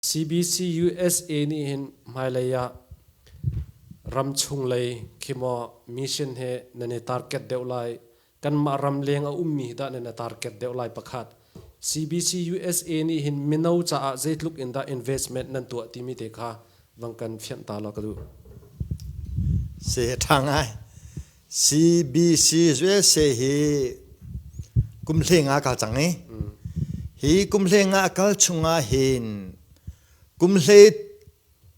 CBCUSA nih hin hmailei ah ramchung lei khi maw mission he nan i target deuh lai kanmah ram leng a ummi hi dah nan i target deuh lai pakhat CBCUSA nih hin mino caah zeitluk in dah investment nan tuah timi te kha vang kan fianh ta law ka duh. Se ṭhang ai. CBC USA hi kumhleng ah a kal cang i hi kumhleng ah a kal chung ah hin kumhlei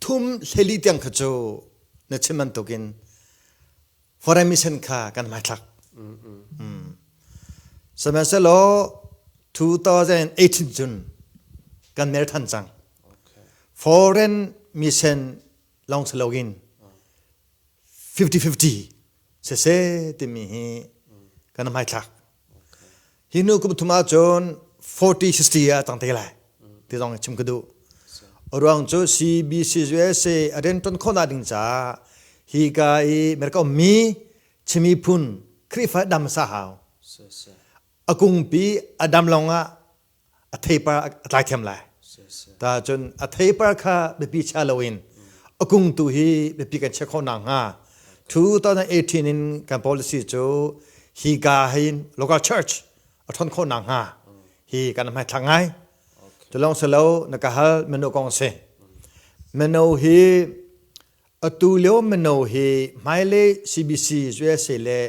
thum hleli tiang kha cu na chim bantuk in foreign mission kha kan hmaithlak. Sihmanhsehlaw 2018 cun kan mer than cang. Foreign mission lawng si lo in 50-50 sese timi hi kan hmaithlak hi nu kum thum ah cun 40-60 ah a tang te lai ti zong chim ka duh ruang cu CBCUSA a rian ṭuan khawhnak ding caah hi ka i merka ummi chimi phun Khrihfa dam sa hau a kungpi a dam lawng ah a theipar a tlai thiam lai ta cun a theipar kha biapi chia loin a kung tu hi biapi kan check khawh nakhnga 2018 in kan policy cu hi ga hin local church a ṭhon khawh nakhnga hi kan hmaithlak ngai tu lawng si lo na ka hal meno kong si meno hi atu lio meno hi hmailei CBC USA le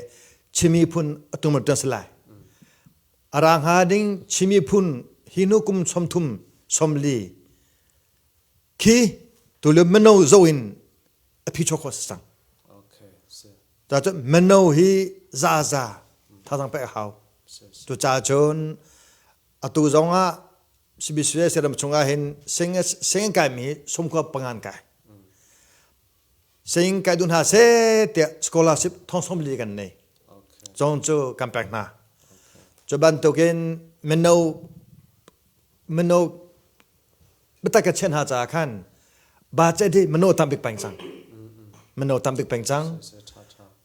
chimi phun atum ṭan si lai a ra hnga ding Chin miphun hi nu kum som thum som li khi tule mano zo in a phi chok kho sang ta chu mano hi za za thazang pe hau tu cha chun atu zong ah CBC seram chungah hin sing sing kai mi sum khua pangan kai Saying kai duh hna seh tiah scholarship thongsawm li kan nei. Cong cu kan pek hna. Cu bantukin mino mino bitak ka chen hna caah khan ba ce di mino tam bik peng cang. Mino tam bik peng cang.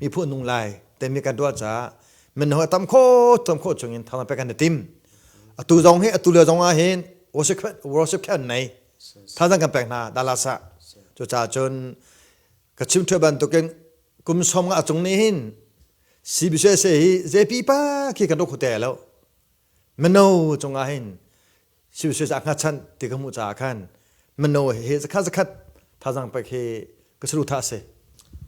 mi phu nung lai temi kan tuah caah min ho tam kho tam kho chung in thama pe kan tim atu zong hi atu le zong ah hin worship worship khan nei thazang kan pek hna dala sa cu ca chun ka chim thua bantukin kum som nga chung ni hin CBC se hi JP pa khi kan rokhu te lo mano chung ah hin CBC sa nga chan ti ka mu cha khan mano hi zakhat zakhat thazang pe khi ka suru tha se